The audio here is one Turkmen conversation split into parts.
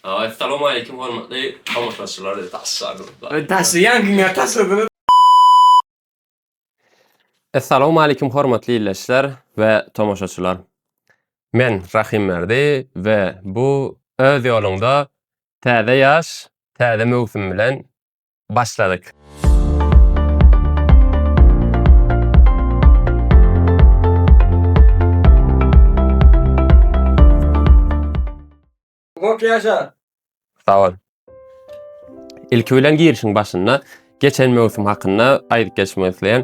Salowmaleýkim hormatly tomaşaçylar taşladyňyz. Taşlaýan kimya taşladyňyz. Salowmaleýkim hormatly illeşler we tomaşaçylar. Men Rahimberdi we bu öz ýoluňda täze ýaş täze möwsüm bilen Başladyk. Kop ýaşa! Sag bol. Ilki bilen girişiň başynda geçen möwsüm hakynda aýdyp geçmek isleýän.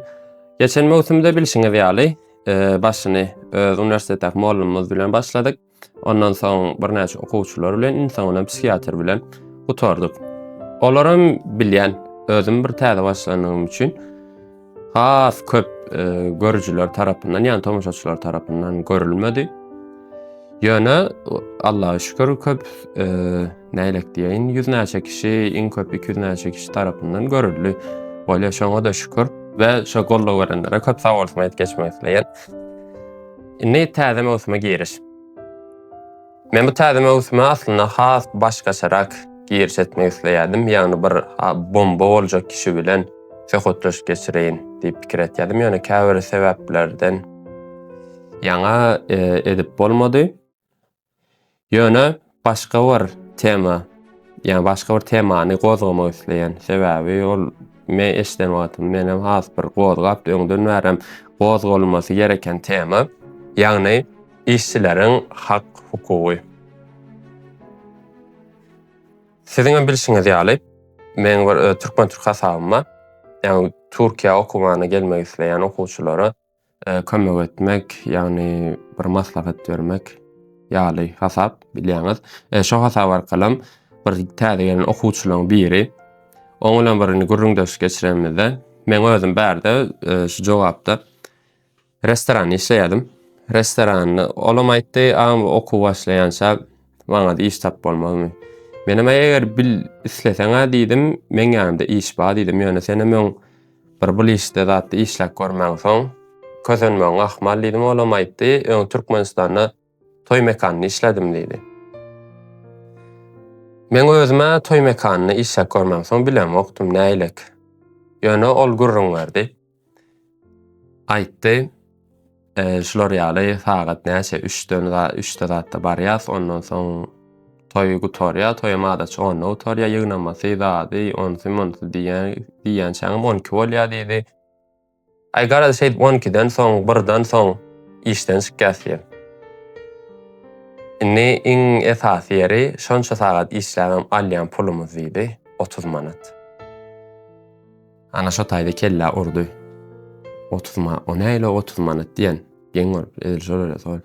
Geçen möwsümde bilşiňiz ýaly, e, başyny öz e, uniwersiteti mugallymymyz bilen başladyk. Ondan soň birnäçe okuwçylar bilen, iň soňundan psihiatr bilen gutardyk. Olaram bilýän, özüm bir täze başlandygym üçin has köp e, görüjiler tarapyndan, ýani tomaşaçylar tarapyndan görülmedi. Ýöne Allaha şükür köp e, näýlek diýeýin, ýüzlerçe kişi, iň köp 200 näçe kişi tarapyndan görüldi. Bolýar, şoňa da şükür we şo gollaw berenlere köp sag bolsun aýdyp geçmek isleýän. Indi täze möwsüme giriş. Men bu täze möwsüme aslynda has başgaçarak giriş etmek isleýärdim. Ýagny bir bomba boljak kişi bilen söhbetleşik geçireýin diýip pikir etýärdim. Ýöne käbir sebäplerden ýaňa e, edip bolmady. Ýöne başga bir tema, ýa başga bir temany gozgamak isleýän. Sebäbi ol men eşden wagtym menem has bir gozgap öňden bärem gozgalmasy gereken tema. Ýagny işçileriň hak hukugy. Siziň hem bilşiňiz ýaly, meň bir türkmen türk hasabyma, ýagny Türkiýä okumana gelmek isleýän okuwçylara kömek etmek, ýagny bir maslahat bermek ýaly hasap bilýäňiz. E, şo hasap arkalam bir täze gelen okuwçylaryň biri oň bilen bir gürrüňdeşlik geçirenimizde men özüm bärde e, şu jogapda restoranda işleýärdim. Restoranda olam aýtdy, agam okuw başlaýança maňa iş tap bolmazmy? Men hem eger bil isleseň-ä diýdim, meň ýanymda iş bar diýdim, ýöne sen hem öň Bir bu liste zatda işläp görmänsoň, kösenmegiň ahmal diýdim, olam aýtdy, öň Türkmenistanda toý mekanynda işlädim diýdi. Meň özüm-ä toý mekanynda işläp görmänsoň bilemokdym, näýlek. Ýöne ol gürrüň berdi. Aýtdy, Şular ýaly sagat näçe üçden üçde zatda barýas, ondan soň toý gutarýa, toýam adaçy onda gutarýa, ýygnamasy, zady, onsy, monsy diýýän, diýýänçäňem on iki bolýa diýdi. Aý garaz şeýdip on ikiden soň, birden soň işden çykýas diýen. Indi iň esasy ýeri şonça sagat işläbem alýan pulumyz diýdi, otuz manat. Ana şo taýda kellä urdy. Otuz ma, o näle otuz manat diýen. Geň görüp, edil şolar ýa sol.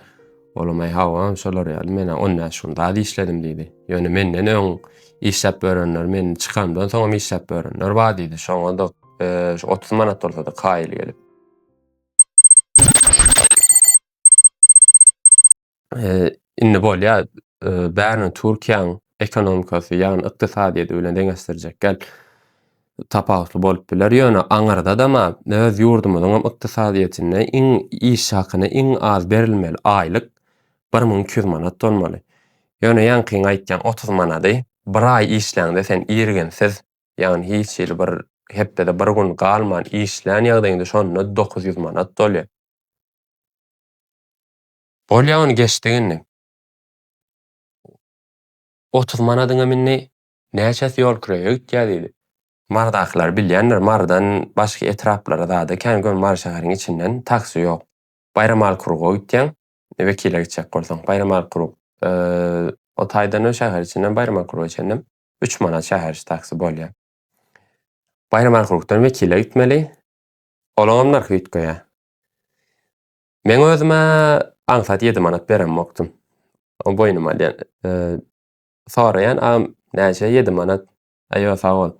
Olam aý hawa, şolar ýaly men on bäş gün zat işledim diýdi. Ýöne menden öň işläp börenler, men çykamdan soňam işläp börenler bar diýdi. Şoňa-da şu otuz manat bolsa-da kaýyl gelip. indi bolýa bärini Türkiýäň ekonomikasy ýagny ykdysadyýeti bilen deňeşdirjek gel tapawutly bolup biler ýöne aňyrda da ma öz ýurdumyzyň ykdysadyýetinde iň iş hakyny iň az berilmeli aýlyk 1200 manat bolmaly ýöne ýaňkyň aýtýan 30 manady bir aý işläňde sen irginsiz ýagny hiç hili bir hepdede bir gün galman işlän ýagdaýyňda şonda 900 manat bolýa. Bolýa ony geçdik indi. Otuz manadyňam indi näçesi ýol kireýe gitýä diýdi. Marydakylar bilýändir, Marydan başga etraplara zada kän göni Mary şäheriň içinden taksi ýok. Baýramaly kruga gitýäň, Wekile gitjek bolsaň. Baýramaly krug. O taýdan hem şäher içinden Baýramaly kruga çenlem üç manat şäher içi taksi bolýa. Baýramaly krugdan Wekile gitmeli. Olaňam nyrhy üýtgeýä. Men özüme aňsat ýedi manat beremokdym. O boýnuma de, e, soraýan agam näçe ýedi manat? Aýo sag bol.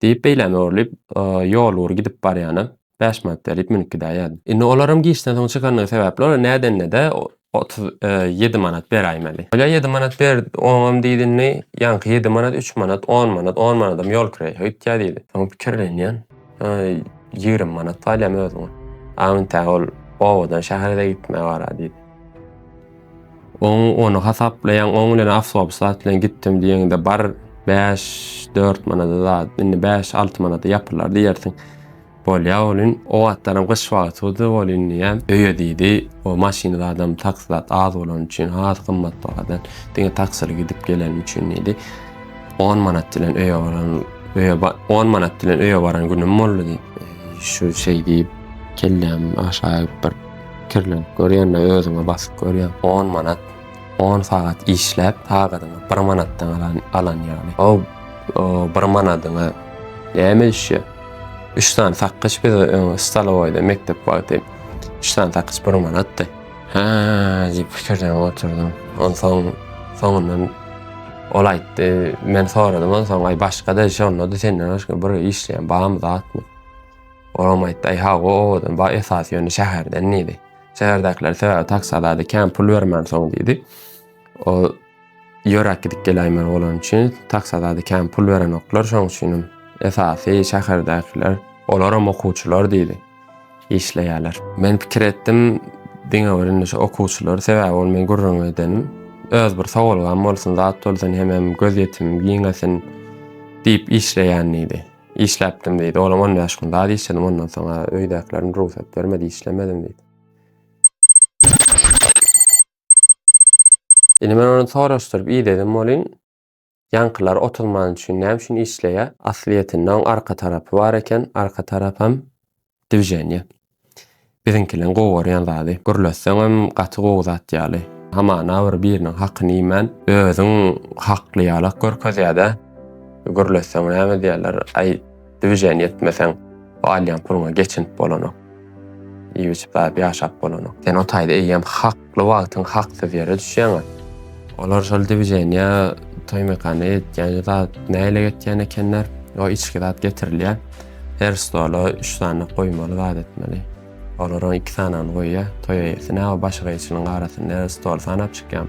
Diýip beýläme urlyp, e, ýol ugur gidip barýana bäş manat berip münüp gidäýýärdi. Indi olaram giçden soň çykandygy sebäpli olar nädenede otuz e, ýedi manat beräýmeli. Bolýa ýedi manat ber, oňam diýdi indi ýaňky ýedi manat üç manat, on manat, on manadam ýol kireýi gitýär diýdi. Soň pikirlenýän. Ýigrimi manat galýamy özüňe? Aňte ol owadan şähere-de gitmä bara diýdi. Oň ony hasaplaýaň, oň bilen awtobus zat bilen gitdim diýeňde bar bäş, dört manada zat, indi bäş, alty manada ýapylar diýersiň. Bolýa bolin, o wagtlaram gyş wagtydy, bol indiyem öýe diýdi. O maşyny zadam taksi zat az bolany üçin, az gymmat bahadan, diňe taksili gidip gelenim üçin diýdi. On manat bilen öýe baran, öýe on manat bilen öýe baran günüm boldy diýip, şu şey diýip kelläm aşağı bir kirlenip görýände özüňe basyp görýän 10 manat 10 sagat işläp sagadyňa 1 manatdan alan alan ýaly. O 1 manadyňa näme işe? 3 sany sakgyç bize stalowaýda mekdep wagty 3 sany sakgyç 1 manatdy. Hä, diýip pikirlenip oturdym. Onsoň soňundan ol aýtdy, men soradym onsoň, aý başga-da iş onda-da senden başga bir işleýän barmy zatmy? Olam aýtdy, aý hawa owadan bar, esasy ýöne şäherden diýdi. Şäherdäkiler sebäbi taksy alady, kän pul bermän soň diýdi. O Ýöräp gidip geläýmeli bolany üçin taksa zady kän pul berenoklar, şoň üçinem esasy şäherdäkiler, olaram okuwçylar diýdi, işleýärler. Men pikir etdim, diňe bir indi şu okuwçylar, sebäbi ol men gürrüňi edenim, öz bir sowalgam bolsun, zat bolsun, hemem gözýetimim giňesin diýip işleýän diýdi. Işläpdim diýdi, olam on bäş gün zat işledim, ondan soň-a öýdäkilerim rugsat bermedi, işlemedim diýdi. Indi men ony soraşdyryp ideden bolyn. Ýaňkylar otuz manat üçin näme üçin işleýä? Aslyýetinde oň arka tarapy bar eken, arka tarapam dwiženýe. Biziňkileň gowy görýän zady. Gürletseňem gaty gowy zat ýaly. Hamana bir biriniň hakyny iýmän, özüň hakly ýalak görkezýädä. Gürletseň näme diýerler, aý. Düwjen ýetmeseň, bu alýan puluňa geçinip bolanok. Iýip-içip zat ýaşap bolanok. Sen o taýda eýýäm hakly wagtyň haksyz ýere düşýäň-ä. Olar şol düwjenýä toý-mekana ýetýän zat näle ýetýän ekenler? O içki zat getirilýär. Her stola üç sany goýmaly zat etmeli. Olar oň iki sanany goýýa. Toý eýesi, Näwa başy gyýyçynyň arasynda ýa stol sanap çykýam.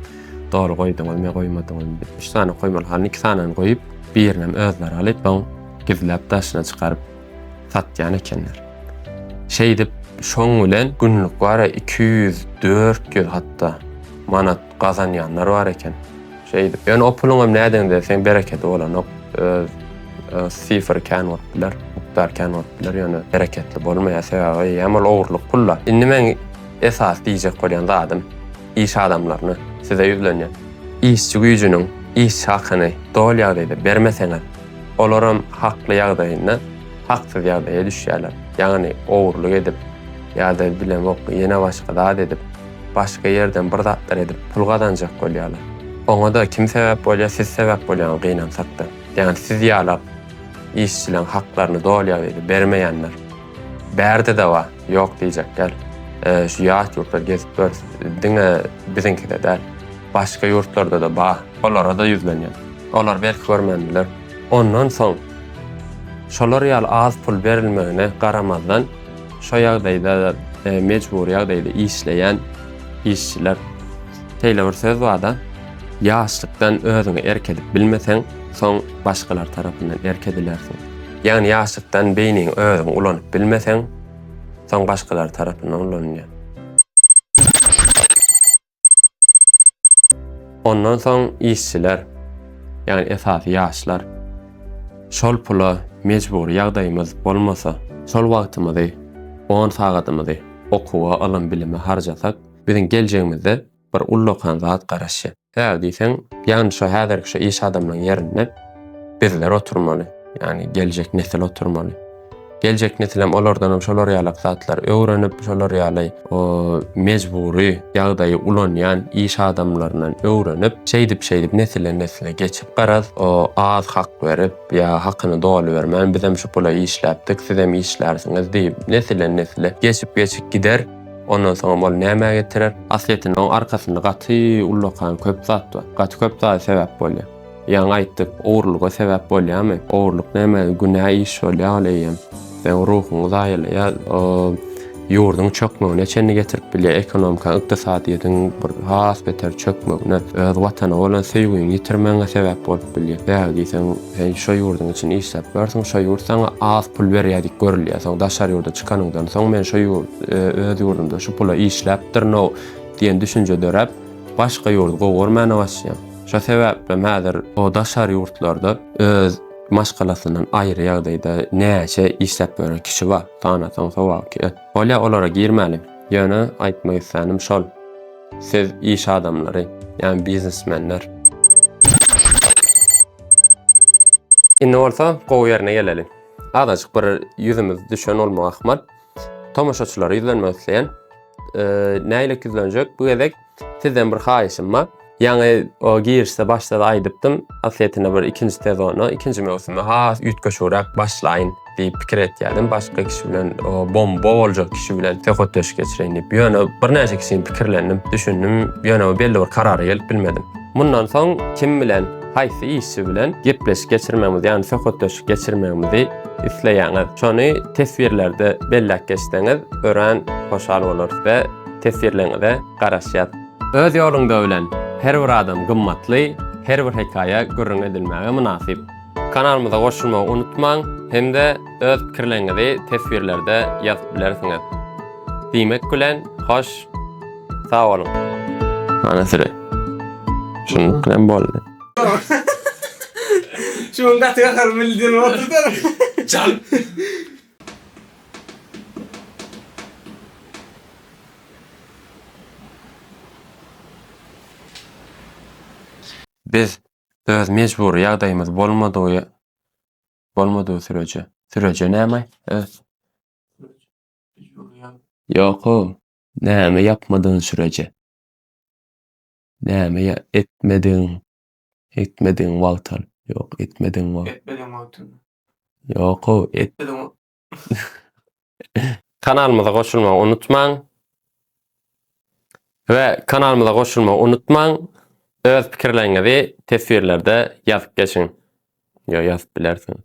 Doly goýduňyzmy ýa goýmadyňyzmy? Üç sany goýmaly halyny iki sanany goýup, birinem özleri alyp, soň gizläp daşyna çykaryp satýan ekenler. Şeýdip, şoň bilen günlük wara iki ýüz, dört ýüz hatda manat Gazanýanlar bar eken. Şeýdip, ýöne o puluň hem nädeňde sen bereketi bolanok. Öz sifr kän bolup biler, mukdar kän bolup biler, ýöne bereketli bolmaýar. Sebäbi hem ol ogurlyk pul-la. Indi meň esas diýjek bolýan zadym iş adamlaryna, size ýüzlenýän. Işçi güýjüniň iş hakyny doly ýagdaýda bermeseňiz, olaram hakly ýagdaýynda haksyz ýagdaýa düşýärler. Ýagny ogurlyk edip ýa-da bilemok ýene başga zat edip, Başga ýerden bir zatlar edip pul gazanjak bolýarlar. Oňada kim sebäp bolýar siz sebäp bolýaňyz gynansakda. Ýagny siz ýalap işçileň haklaryny dolýar diýdi bermeýänler. Bärdede bar ýok diýjek däl. Şu ýat ýurtlar gezip görs diňe biziňkide däl. Başga ýurtlardada bar. Olarada ýüzlenýän. Olar belki görmän biler. Ondan soň şolar ýaly az pul berilmegine garamazdan. Şo ýagdaýda mejbury ýagdaýda işleýän işçiler şeýle bir söz barda ýaşlykdan özüňe erk edip bilmeseň, soň başgalar tarapyndan erk edilersiň. Ýagny ýaşlykdan beýniňi özüň ulanyp bilmeseň, soň başgalar tarapyndan ulanylýar. Ondan soň işçiler, ýagny esasy ýaşlar şol pula mejbury ýagdaýymyz bolmasa, şol wagtymyzy, on sagadymyzy okuwa, ylym-bilime harjasak, biziň geljegimizde bir ullakan zat garaşýar. Sebäbi diýseň, ýagny şu häzirki şu iş adamlaryň ýerinde bizler oturmaly, ýagny geljek nesil oturmaly. Geljek nesilem olardanam şolar ýalak zatlar öwrenip, şolar ýaly o mejbury ýagdaýy ulanýan iş adamlaryndan öwrenip, şeýdip-şeýdip nesile-nesile geçip, garaz, o az hak berip, ýa hakyny doly bermän, bizem şu pula işläpdik, sizem işlärsiňiz diýip, nesile-nesile geçip-geçip gider. Ondan soňam ol nämä getirer? Aslyýetinde oň arkasynda gaty ullakan köp zat bar. Gaty köp zat sebäp bolýar. Ýaňy aýtdyk, ogrulyga sebäp bolýamy? Ogrulyk näme günä iş bolýa ol eýýäm. Seň ruhuňy zaýalaýar. Ol ýurduň çökmegine çenli getirip bilýär, ekonomika, ykdysadyýetiň bir has beter çökmegine, öz watana bolan söýgiňi ýitirmegiňe sebäp bolup bilýär. Bäh diýseň, sen şo ýurduň üçin işläp ýörsiň, şo ýurt saňa az pul berýär diýip görülýär. Soň daşary ýurda çykanyňdan soň men şo ýurt, öz ýurdumda şu pula işläpdirin-ow diýen düşünje döräp, başga ýurdy gowy görmäne başlaýaň. Şo sebäplem häzir o daşary ýurtlarda öz maşgalasyndan aýry ýagdaýda näçe işläp ýören kişi bar, sanasaň sowak. Bolýa olara girmäliň. Ýöne aýtmak islänim şol. Siz iş adamlary, ýa biznesmenler. Indi bolsa gowy ýerine geleliň. Azajyk bir ýüzümiz düşen bolmagy ahmal. Tomaşaçylara ýüzlenmek isleýän. Nähili ýüzlenjek? Bu gezek sizden bir haýyşym bar. Ýaňy o girişde başda da aýdypdym, aslyýetinde bir ikinji sezona, ikinji möwsüme has üýtgeşigräk başlaýyn diýip pikir etýärdim. Başga kişi bilen, bomba boljak kişi bilen söhbetdeşlik geçireýin diýip. Ýöne birnäçe kişini pikirlendim, düşündim, ýöne belli bir karara gelip bilmedim. Mundan soň kim bilen, haýsy işçi bilen gepleşik geçirmegimizi, ýagny söhbetdeşlik geçirmegimizi isleýäňiz? Şony teswirlerde belläp geçseňiz, örän hoşal bolarys we teswirleriňize garaşýas. Öz ýoluňda öwlen, her bir adam gymmatly, her bir hekaýa gürrüň edilmäge mynasyp. Kanalymyza goşulmagy unutmaň hem-de öz pikirleriňizi teswirlerde ýazyp bilersiňiz. Diýmek bilen, hoş, sag boluň! Ana süre. Şunuň bilen boldy. Şuň gaty gahar bildir oturdyr. Çal. Biz öz mejbury ýagdaýymyz bolmadygy bolmadygy süreje. Süreje näme? Öz Ýok, näme ýapmadygyň süreje. Näme ýa- etmedigiň, etmedigiň wagtal. Ýok, etmedigiň wagt. Etmedigiň wagtynda. Ýok, et, Etmedigiň Kanalymyza goşulmagy unutmaň. We kanalymyza goşulmagy unutmaň. Öz pikirleriňizi teswirlerde ýazyp geçiň. Ýa ýazyp bilersiňiz.